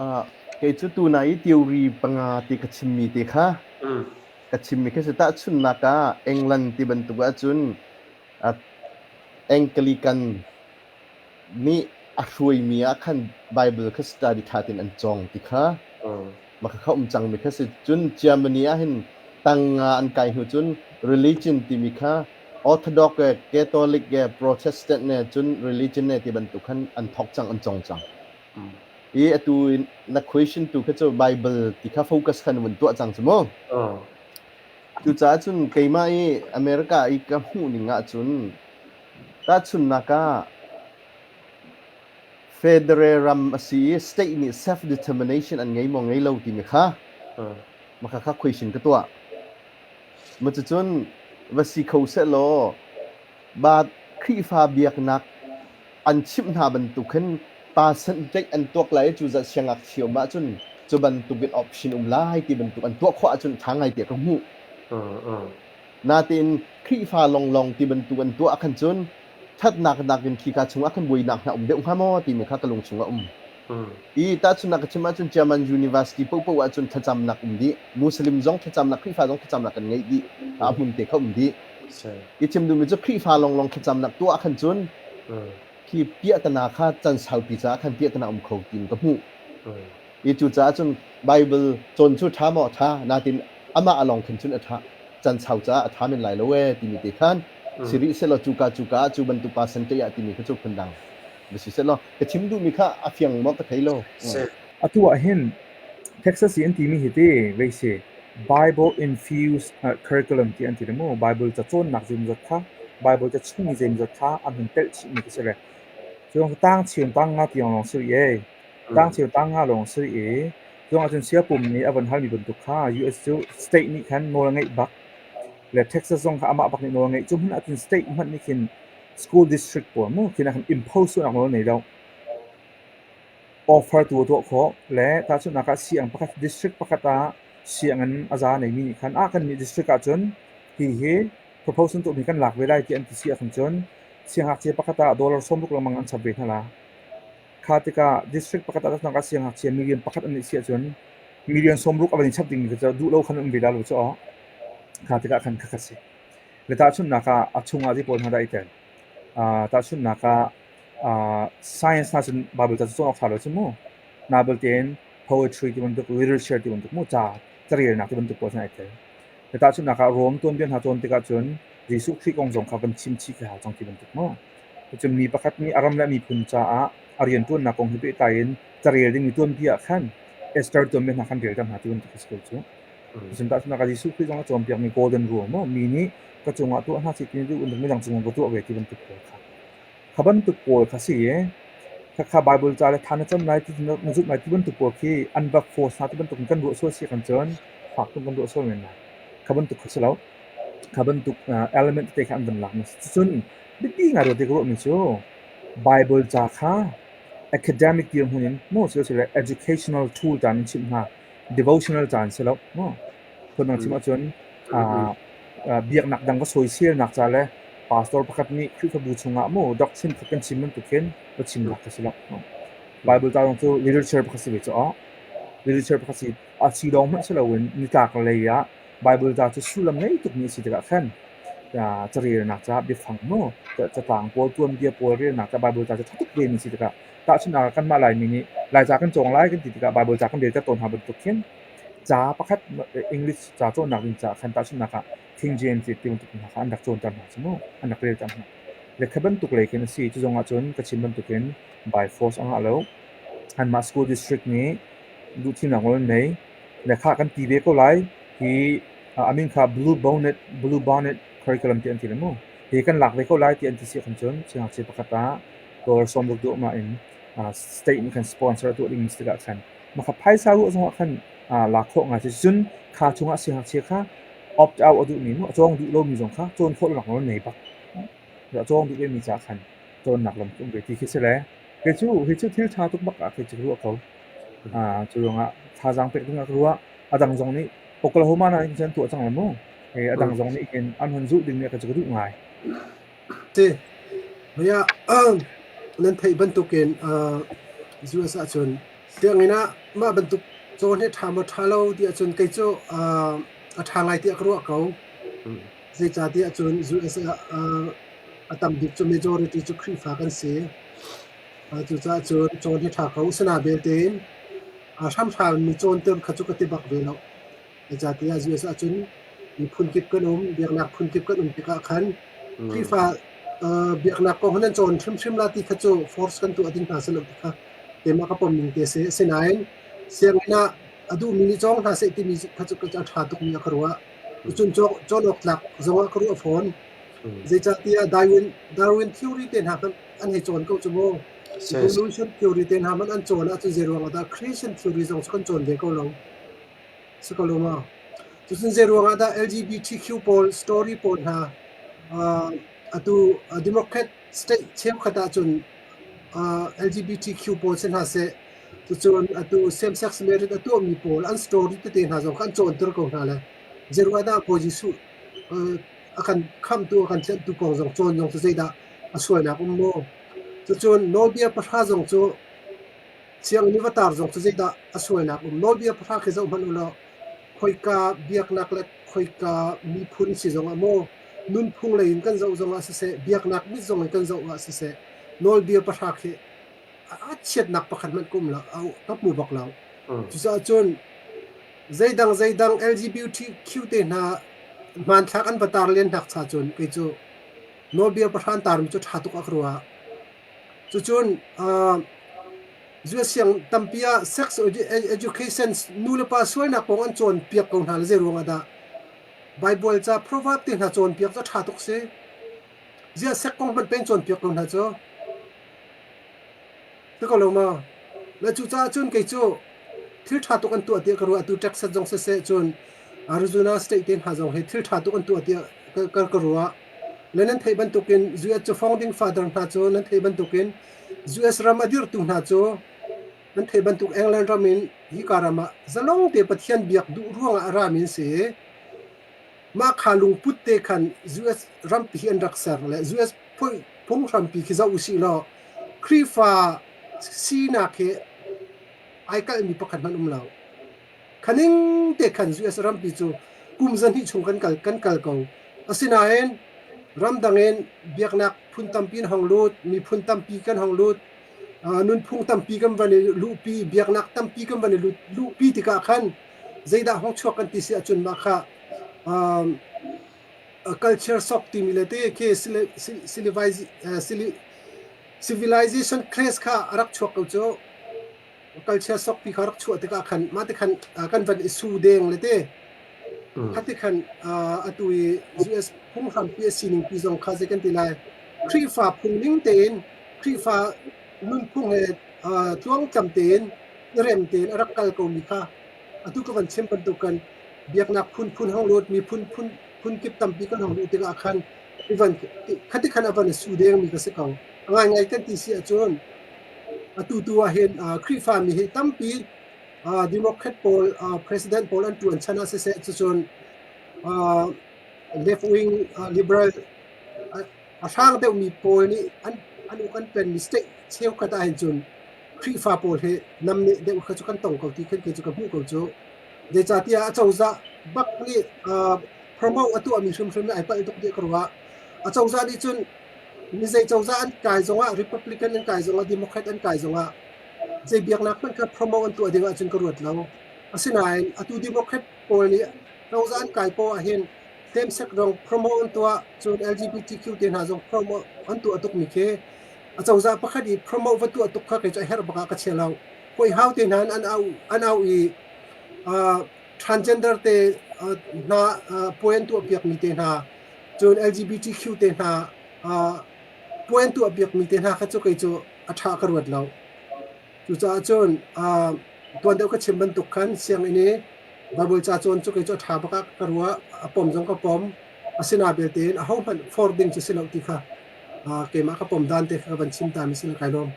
Uh, kei cu tunai i theory panga ti ka chimmi te kha ka chimmi khi si tahchunhnak ah England ti bantuk ahcun uh, Anglican nih a hruaimi ah khan Bible kha study ṭha tein an cawng ti kha Maka um cangmi kha si cun Germany ah hin tanga an kai hnu cun religion timi kha Orthodox le Catholic le Protestant le cun religion le ti bantuk khan an thawk cang an cawng cang i atu na question tu kha cu Bible ti kha focus khan vun tuah cang cu mu cucaah cun keimah i America i ka hmuh ning ahcun tahchunhnak ah Federer ram a si i state nih self-determination an ngei maw ngei lo timi kha maka kha khuaishin ka tuah. Macucun va si kho sehlaw ba Khrihfa biaknak an chimh hna bantuk khin percent tlaih an tuak lai i cu zat siangngakchia um ahcun cu bantukin option um lai ti bantuk an tuah khawh ahcun ṭha ngai tiah ka hmuh. Natein Khrihfa lawnglawng ti bantuk an tuah ah khan cun ṭhatnak nakin khika chungah khan buainak hna a um deuh hnga maw timi kha ka lung chungah a um i tahchunhnak ka chim ahcun Chiaman University paohpaoh ah cun thlacamnak um dih, Muslim zong thlacamnak Khrihfa zong thlacamnak kan ngeih dih, a hmun te kha um dih. I chim duhmi cu Khrihfa lawnglawng thlacamnak tuah ah khan cun khi piahtana kha can saupi caah khan piahtana um kho tiin ka hmuh i cucaah cun Baibal cawn cu ṭha maw? Ṭha, natin amah a lawng khin cun a ṭha, can sau caah a ṭha men lai lo ee timi te khan si rih sehlaw cuka cuka ah cu bantuk percent ṭih ah timi kha cu phundang va si sehlaw ka chim duhmi kha a fiang maw ka thei lo. Atu ah hin Texas i an timi hi ti vei si Bible-infused curriculum ti an ti le mu Bible ca cawnnak zeimawzat kha Bible ca chimmi zeimawzat kha an hun telh chihmi khi si re cu tang chiu tang nga tiang lawng si rih tang chiu tang nga lawng si rih cu ahcun siapum nih a van halmi bantuk kha US cu state nih khan nawl a ngeih bak le Texas zong kha amah bak nih nawl ngeih. Cu hmun ahcun state hmanh nih khin school district pawl mu khin a kan impose sualnak nawl nei lo. Offer tu a tuah khawh le tahchunhnak ah siang pakhat district pakhat ah sianginn a za neimi nih khan ah kannih district ahcun hihi proposal tuhmi kan lak ve lai ti an ti si ahcun cun siangngakchia pakhat ah dollar sawmruk lengmang an chap ve hna la. Kha tikah district pakhat ah cun a siangngakchia million pakhat an nih si ahcun million sawmruk a van i chap ding mi cu duh lo khan um ve dah lo caw kha tikah khan khakhat si. Le tahchunhnak ah a chungah ti pawl hna dah i tel. Uh, tahchunhnak ah uh, science hna cun Bible ca cu cawng awk ṭha lo cu mu. Nabalte in poetry ti bantuk, literature ti bantuk mu ca carelnak ti bantuk pawl hna i tel. Hi tahchunhnak ah Rom tuanbia hna cawn tikah cun Jesuh Khrih kong zong kha kan chimchih khi hau cang ti bantuk maw? Cun mi pakhat nih a ram le a miphun caah a rianṭuannak kong he pehtlai in carel dingmi tuanbia ah khan Esther tuanbia hna khan rel ṭhan hna ti bantuk khi si ko cu. Cun tahchunhnak ah Jesuh Khrih zong a cawnpiakmi golden rule maw, mi nih ka cungah tuah hna sih ti nih duh bantuk midang cungah ka tuah ve ti bantuk pawl kha. Kha bantuk pawl kha si i khakha Baibal ca le tha na cam lai ti na zumh lai ti bantuk pawl khi unblock force hna ti bantuk in kan ruah sual si kan cun fak tuk kan ruah sual men lai. Kha bantuk kha si lo. Kha bantuk uh, element te kha an van lak na si. Cucun biapi ngai ruat i ka ruahmi cu Baibal ca kha academic dir hmun in maw si lo sile educational tool caan in chim hna, devotional caan si lo maw? Phun an chim ahcun biaknak dang ka sawiselnak ca le pastor pakhat nih Khrihfabu chungah maw dak chinkhat kan chim bantuk khin va chim dak ka si lo. Bible ca zong cu literature pakhat si ve cu awh. Literature pakhat si. A si lawng hmanh si loin nitlak lei ah Bible ca cu sullam ngei tukmi a si tikah khan carelnak ca biafang maw catlang pawl tuanbia pawl relnak ca Bible ca cu ṭha tuk ve na si tikah tahchunh ah kanmah Laimi nih Laica kan cawng lai kan ti tikah Bible ca kan rel ter tawn hna bantuk khin Ca pakhat English ca cawnnak ding caah khan tahchunhnak ah King James ti bantuk hna kha an rak cawnter hna cu mu, an rak relter hna. Le kha bantuk lei khin a si. Cu zongah cun ka chim bantukin by force a ngah lo. Anmah school district nih duhthimnak nawl an nei. Le kha kan ti ve ko lai hi a min kha Blue Bonnet, Blue Bonnet Curriculum ti an ti le mu. Hi kan lak ve ko lai ti an ti si ahkhan cun siangngakchia pakhat ah dawr sawm ruk duh mah in state nih khan sponsor tuah ding si tikah khan Maka phaisa ruah zongah khan aa lak khawh ngai cun kha chungah siangngakchia kha opt out a duhmi nih a cawng duh lomi zong kha cawn khawh lonak nawl an ngei bak. A cawng duh vemi caah khan cawnnak lam cu um ve ti khi si le kei cu hi cu thil ṭha tuk bak ah kei cu ka ruah ko. Aa cu ruangah thazaang pek dingah ka ruah. A dang zong nih Oklahoma nakin cun an tuah cang lo mu. Hey, a dang zong nih hin an hun zulh dingmi ka cu ka duh ngai. ti. Mei ah nan theih bantukin US ahcun sianginn ah mah bantuk caw hi a ṭha maw ṭha lo ti ahcun kei cu a ṭha lai tiah ka ruah ko. Zeicatiah cun US ah a tam bik cu majority cu Khrihfa kan si. Cucaah cun cawn hi ṭha ko. Asinain belte in hramhram mi cawnter kha cu ka ti bak ve loh. Zeicahtiah Jesus ah cun miphun kip kan um, biaknak phun kip kan um tikah khan mm. Khrihfa uh, biaknak kong hin an cawn hrimhrim la ti kha cu force kan tuah ding hna silo ti kha keimah ka pom ning te si. Asinain sianginn ah a duhmi ni cawng hna seh timi kha cu ka ṭha tukmi a ka ruah. Cucun cawn awk tlak zongah ka ruah fawn. Mm. Zeicahtiah Darwin, Darwin theory te hna an hei cawn ko cu mu. Evolution theory te hna man an cawn ahcun zei ruang ahdah Christian theory zong cu kan cawn ve ko lo. Cutin zeiruangah dah LGBTQ pawl story pawl hna atu Democrat state cheukhat ahcun LGBTQ pawl si hna seh cucu atu same-sex marriage a tuahmi pawl an story tete hna zong kha an cawnter ko hna le zeiruangah dah Bawi Jesuh a kan khamhtu a kan tlenhtu kong zong cawn zong cu zeidah a sualnak um maw? Cucun Nawlbia pahra zong cu Sianginn i va tar zong cu zeidah a sualnak um? Nawlbia pahra khi zoh hmanh u law khoika biaknak le khoika miphun si zongah maw, nunphung lei in kan zoh zongah siseh, biaknak mit zong in kan zohah siseh, nawlbia pahra khi a chiatnak pakhat hmanh ka um lo, ka hmu bak lo. Cucaah cun zeidang zeidang LGBTQ te hna hmanthlak an va tar len nak cha cun kei cu nawlbia pahra an tarmi cu ṭha tuk ah ka ruah. Cucun zuaisiang tampi ah sex education nulepa sualnak kong an cawnpiak ko hna le zeiruang ah dah Baibal ca proverb te hna cawnpiak cu a ṭha tuk si. Ziah sek kong hmanh peng cawnpiak ko hna cu. Ti ko lo ma? Le cucaah cun kei cu thil ṭha tuk an tuah tiah ka ruah. Atu Texas zong siseh cun Arizona state te hna zong hi thil ṭha tuk an tuah tiah ka ruah. Le nan theih bantukin US cafawng ding father hna cu nan theih bantukin US ram a dirtu hna cu nan theih bantuk England ram in hika ram ah zalong te Pathian biak duh ruangah a rami an si i mah kha lungput te khan US ram pi hi an rak ser le US phunghrampi khi zoh usih law Khrihfa sinak hi ai kalhmi pakhat hmanh um lo. khaning te khan US rampi cu kum zahnih chung kan kal kan kal ko asinain ramdang in biaknak phun tampi an hong lut miphun tampi kan hong lut nunphung tampi kan van i luhpi biaknak tampi kan van i lut luhpi tikah khan zeidah hong chuak kan ti si ahcun mah kha culture shock timi le te khi civilization crash kha a rak chuak ko cu kal chia sok ti kha rak chuah tikah khan mah ti khan kan van i su deng le te khati khan atu i US phung hrampi a sining pi zong kha zei kan ti lai Khrihfa phungning tein Khrihfa nunphung he tluangtlam tein i rem tein a rak kal komi kha atu ka van chim bantukan biaknak phunphun hong luat mi phunphun phun kip tampi kan hong luh tikah khan Even khatikhat a van i su dengmi ka si ko. A ngaingai kan ti si ahcun atu tu ahhin Khrihfami hi tampi Democrat pawl President pawl an ṭuan chan ah siseh cucun left-wing liberal a hrang deuhmi pawl nih an uk an penmi state cheukhat ahhin cun Khrihfa pawl hi namneh deuh kha cu kan tong ko ti khin kei cu ka hmuh ko cu. Zeicatiah acozah bak nih uh, promo a tuahmi hrimhrim in ai palh tuk ti ka ruah. Acozah nih cun mi zei cozah an kai zongah Republican an kai zongah Democrat an kai zongah zei biaknak hmanh kha promo an tuah dingah cun ka ruat lo. Asinain atu Democrat pawl nih cozah an kai poah ahhin same sex zong promo an tuah cun LGBTQ te hna zong promo an tuah tukmi khi acozah pakhat i promo va tuah tuk kha kei cu a herh bak ah ka chia lo. huaihau te hna an au an au i uh, transgender te uh, hna uh, puai an tuah piak mi te hna cun LGBTQ te hna uh, puai an tuah piak mi te hna kha cu kei cu a tha ka ruat lo cucaah cun uh, tuan deuh ka chim bantuk khan sianginn i babul cha chon cu kei cu a tha baka ka rua a pom zong ka pom asina belte a ho hmanh for ding chi si lo ti kha uh, keimah ka pom dan te kha ka van chim ta mi sin kai lawm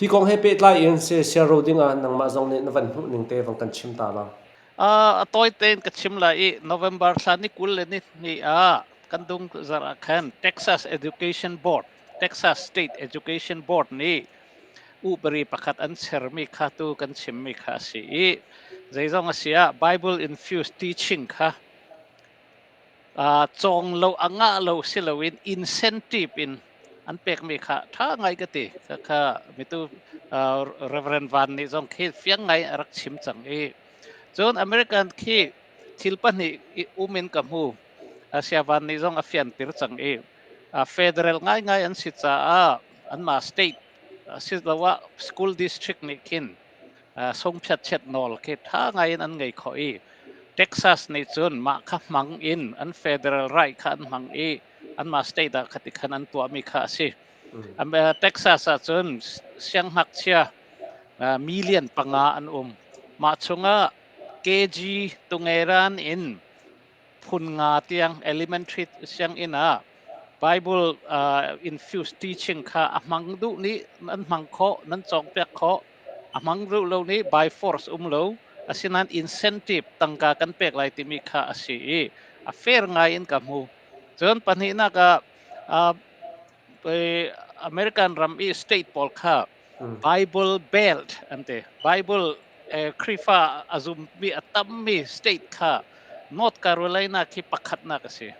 Hi kong he pehtlai in siasia ro ding ah nangmah zong nih na van hmuh ning te vang kan chim ta bang. Uh, a tawi tein ka chim lai i November thla ni kul le ni ni ah kan dung zarh ah khan Texas Education Board Texas State Education Board nih upari pakhat an sermi kha tu kan chimmi kha a si i zeizong a si ah Bible infused teaching kha cawng lo a ngah lo si loin incentive in an pekmi kha ṭha ngai ka ti. Khakha mitu Reverend Van nih zong khi fiang ngai a rak chim cang i cun American khi thil pahnih i um in ka hmu. Sia Van nih zong a fianter cang i federal ngaingai an si caah anmah state asiloah school district nih khin sungphiatchiat nawl khi ṭha ngaiin an ngei khawh i Texas nih cun mah kha hmang in an federal right kha an hmang i anmah state ah khati khan an tuahmi kha a si. Texas ahcun sianghngakchia million panga an um. Mah chungah KG Tungeran in phun nga tiang elementary sianginn ah Bible uh, infused teaching kha a hmang duh nih nan hmang khawh nan cawngpiak khawh a hmang ru lo ni by force um lo asinain incentive tangka kan pek lai timi kha a si i a fair ngai in ka hmu cun pahnihnak ah uh, American ram i state pawl kha Bible Belt an ti. Bible Khrifa a zummi a tammi state kha North Carolina khi pakhatnak a si.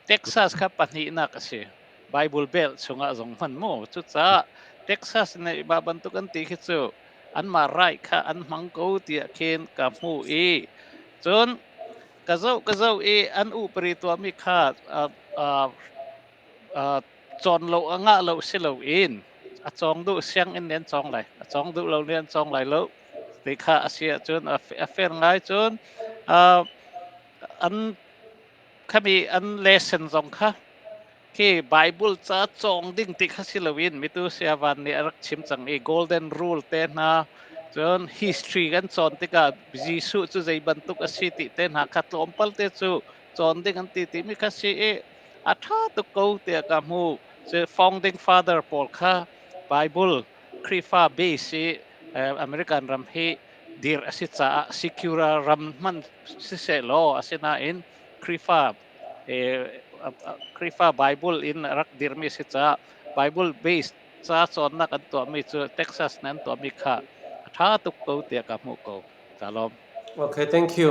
Texas kha pahnihnak a si. Bible Belt chungah zong hman mu. Cucaah Texas nih mah bantuk an ti khi cu anmah right kha an hmang ko tiah khin ka hmuh i cun ka zoh ka zoh i an upari tuahmi kha uh, uh, Uh, cawn lo a ngah lo si loin a cawng duh sianginn nih an cawng lai a cawng duh lo nih an cawng lai lo ti kha a si ahcun a, a fair ngai cun uh, an kami an lesson zong kha khi Bible ca cawng ding ti kha si loin mitu siavan nih a rak chim cang i golden rule te hna cun history kan cawn tikah Jesuh cu zei bantuk a si ti te hna kha tlawmpal te cu cawn ding an ti timi kha si i A ṭha tuk ko tiah ka hmuh. Cu founding father pawl kha Baibal Khrihfa base i eh, American ram hi dir a si caah secular ram hman sisehlaw asinain Khrihfa eh, Khrihfa Baibal in a rak dirmi a si caah Baibal base ca cawnnak an tuahmi cu Texas nih an tuahmi kha a ṭha tuk ko tiah ka hmuh ko. Ka lawm. Okay, thank you.